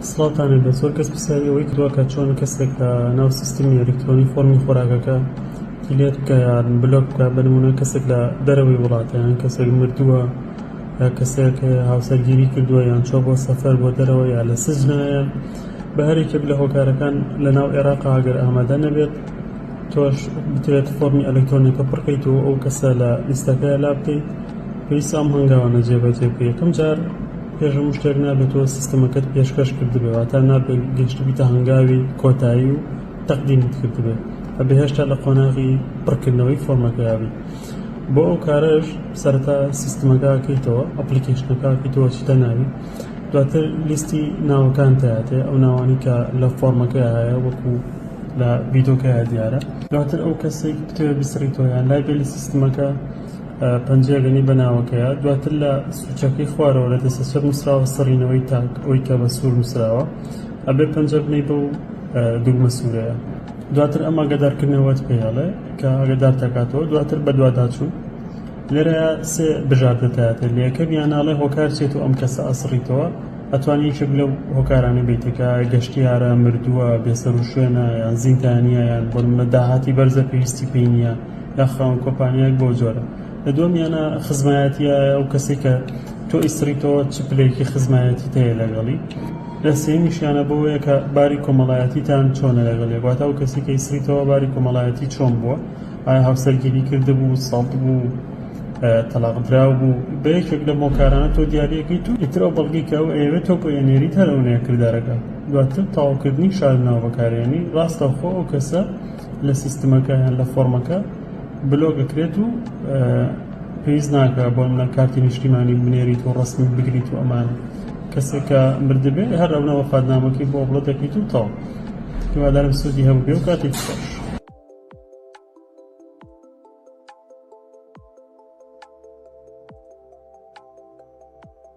سڵاوتان لێبێت زۆر کەس پرسیاری ئەوەی کردوە کە چۆن کەسێک لە ناو سیستمی ئەلیکترۆنی فۆرمی خۆراکەکە دیلێت بکە یان بلۆک بکە بە نمونە کەسێک لە دەرەوەی وڵاتە یان کەسێک مردووە یا کەسێک هاوسەرگیری کردووە یان چۆ بۆ سەفەر بۆ دەرەوە یا لە سزنایە بە هەرێکێک لە هۆکارەکان لە ناو عێراق ئاگەر ئامادە نەبێت تۆش بتوێت فۆرمی ئەلکترۆنەکە پڕکەیت و ئەو کەسە لە لیستەکە لا بکەیت پێویست ئەم هەنگاوانە جێبەجێ بکەیت یەکەم جار پێش هەموو شتێک نابێت تۆ سیستەمەکەت پێشکەش کردبێ واتا نابێت گەشتبیتە هەنگاوی کۆتایی و تەقدیمت کردبێت ئەبێ هێشتا لە قۆناغی پڕکردنەوەی فۆرمەکەیابی بۆ ئەو کارەش سەرتا سیستمەکەکەیتەوە ئەپلیکیشنەکەکەیتەوە چیتە ناوی دواتر لیستی ناوەکان تاتێ ئەو ناوانی کە لە فۆرمەکە هەیە وەکو لە ڤیدۆکە دیارە دواتر ئەو کەسێک بتەوێت بسڕیتەوەیان لای بێ لە سیستمەکە پەنجەیە گەنی بە ناوەکەیە دواتر لە سوچەکەی خوارەوە لە دەستە چەپ نووسراوە سڕینەوەی تاک ئەوی کە بە سوور نووسراوە ئەبێ پەنجە بنەی بە و دوگمە سوورەیە دواتر ئەم ئەگەدارکردنەوەت پێڵێ کە ئەگەدار تاکاتەوە دواتر بە دوواداچوو لێرە سێ بژاردەتاتێت لە یەکەم یانناڵێ هۆکار چێت و ئەم کەسە ئەسڕیتەوە ئەتوانی یەکێک لەو هۆکارانە بیتەکە گەشتیارە مردووە بێسەر و شوێنە یان زیندانیە یان بۆ منە داهاتی بەرزە پێویستی پێی نیە داخراون کۆپانیایەک بەو جۆرە لە دووەمیانە خزمایەتیە ئەو کەسی کە تۆ ئیسریتەوە چ پلەیەکی خزمایەتی تەیە لەگەڵی لە سێمیشیانە بۆیە کە باری کۆمەڵایەتیتان چۆنە لەگەڵێ واتە ئەو کەسی کە ئیسریتەوە باری کۆمەڵایەتی چۆن بووە ئایا هاوسەرگیری کردبوو سەڵت بوو تەلاقدراو بوو بە یەکێک لە مۆکارانە تۆ دیارەکەی تو ئیتر ئەو بەڵگی کە ئەو ئەوێت تۆ بۆ ئێنێری تەرەونەیە کردارەکە دواتر تەواوکردنی شاردنەوە بەکارێنی ڕاستەوخۆ ئەو کەسە لە سیستمەکە یان لە فۆرمەکە بلۆک ئەکرێت و پێویست ناکە بۆ منە کارتی نیشتیمانی بنێریت و ڕستمی بگریت و ئەمان کەسێکە مردبێ هەر ئەونەوە فادنامەکەی بۆ بڵۆ دەکەیت و تاو هیوادارم سودی هەبوو بێ و کاتێک خۆش